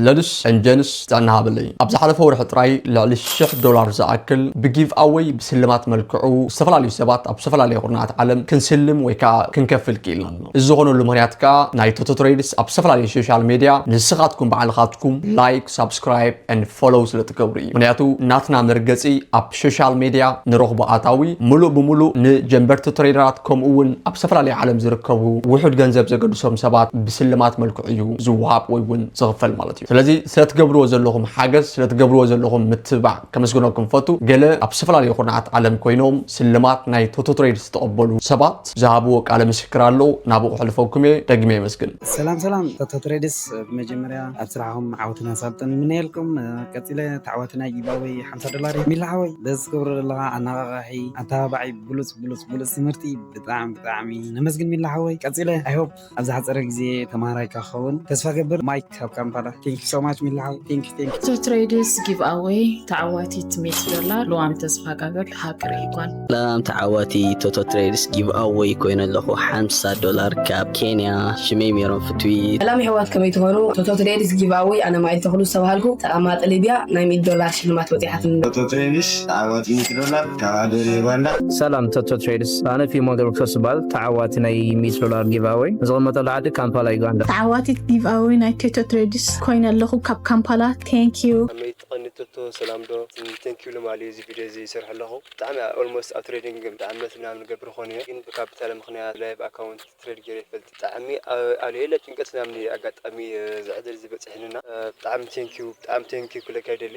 ለሉስ ን ጀንስ ጥዕና ሃበለይ ኣብ ዝሓለፈ ወርሒ ጥራይ ልዕሊ ሽሕ ዶላር ዝኣክል ብጊቭኣወይ ብስልማት መልክዑ ዝተፈላለዩ ሰባት ኣብ ዝተፈላለየ ኩርናዓት ዓለም ክንስልም ወይ ከኣ ክንከፍል ክኢልና ኣለና እዚ ዝኾነሉ ምክንያት ከኣ ናይ ቶቶ ትሬድስ ኣብ ዝተፈላለየ ሾሻል ሜድያ ንስኻትኩም ባዕልኻትኩም ላይክ ሳብስክራይብ ን ፎሎው ስለ ትገብሩ እዩ ምክንያቱ ናትና መርገጺ ኣብ ሾሻል ሜድያ ንረኽቦ ኣታዊ ሙሉእ ብሙሉእ ንጀምበርቲ ትሬደራት ከምኡ ውን ኣብ ዝተፈላለየ ዓለም ዝርከቡ ውሑድ ገንዘብ ዘገድሶም ሰባት ብስልማት መልክዑ እዩ ዝወሃብ ወይ እውን ዝኽፈል ማለት እዩ ስለዚ ስለትገብርዎ ዘለኹም ሓገዝ ስለትገብርዎ ዘለኹም ምትብባዕ ከመስግነኩም ፈቱ ገለ ኣብ ዝተፈላለዩ ኩርናዓት ዓለም ኮይኖም ስልማት ናይ ቶቶትሬድ ዝተቐበሉ ሰባት ዝሃብዎ ቃለ ምስክር ኣሎ ናብኡ ከሕልፈኩም እየ ደጊመ የመስግን ሰላም ሰላም ቶቶትሬድስ ብመጀመርያ ኣብ ስራሕኹም ዓወትን ኣሳልጦን ይምነየልኩም ቀፂለ ተዓዋቲ ናይ ጊቫወይ ሓምሳ ዶላር እዩ ሚላ ሓወይ በዚ ትገብሮ ዘለኻ ኣነቓቓሒ ኣተባባዒ ብሉፅ ብሉፅ ብሉፅ ትምህርቲ ብጣዕሚ ብጣዕሚ ነመስግን ሚላ ሓወይ ቀፂለ ኣይሆፕ ኣብ ዝሓጸረ ግዜ ተማሃራይካ ክኸውን ተስፋ እገብር ማይክ ካብ ካምፓላ። Thank you so much ሚሊ ሓው Thank you Thank you። እቶ ትሬድስ ጊቭኣወይ ተዓዋቲት ሚእቲ ዶላር ልዋም ተስፋጋብር ሃገረይ ጓል። ሰላም ተዓዋቲ ቶቶ ትሬድስ ጊቭኣወይ ኮይነ ኣለኹ ሓምሳ ዶላር ካብ ኬንያ ሽመይ ሜሮን ፍትዊት። ሰላም የሕዋት ከመይ ትኾኑ ቶቶ ትሬድስ ጊቭኣወይ ኣነ ማይል ተኽሉ ዝተባሃልኩ ተቐማጢ ሊብያ ናይ ሚእቲ ዶላር ሽልማት ወጺዓትኒ። ቶቶ ትሬድስ ተዓዋቲ ሚእቲ ዶላር። ሰላም ቶቶ ትሬድስ ኣነ ፊሞ ገብረክርስቶስ ይበሃል ተዓዋቲ ናይ ሚእቲ ዶላር ጊቭኣወይ ዝቕመጠሉ ዓዲ ካምፓላ ዩጋንዳ። ተዓዋቲት ጊቭኣወይ ናይ ቶቶ ትሬድስ ኮይነ ኣለኹ ካብ ካምፓላ ቴንኪዩ። ከመይ ትቀኒ ቶቶ ሰላም ዶ ቴንኪዩ ልማል እዩ እዚ ቪድዮ እዚ ይሰርሖ ኣለኹ ብጣዕሚ ኣብ ኦልሞስት ኣብ ትሬዲንግ ብ ዓመት ምናምን ይገብር ክኾን እየ ግን ብካፒታል ምኽንያት ላይቭ ኣካውንት ትሬድ ገይረ ኣይፈልጥን ብጣዕሚ ኣብ ለየለ ጭንቀት ምናምን እየ ኣጋጣሚ እዚ ዕድል እዚ በፂሕኒ እና ብጣዕሚ ቴንኪዩ ብጣዕሚ ቴንኪዩ ክብለካ ይደሊ።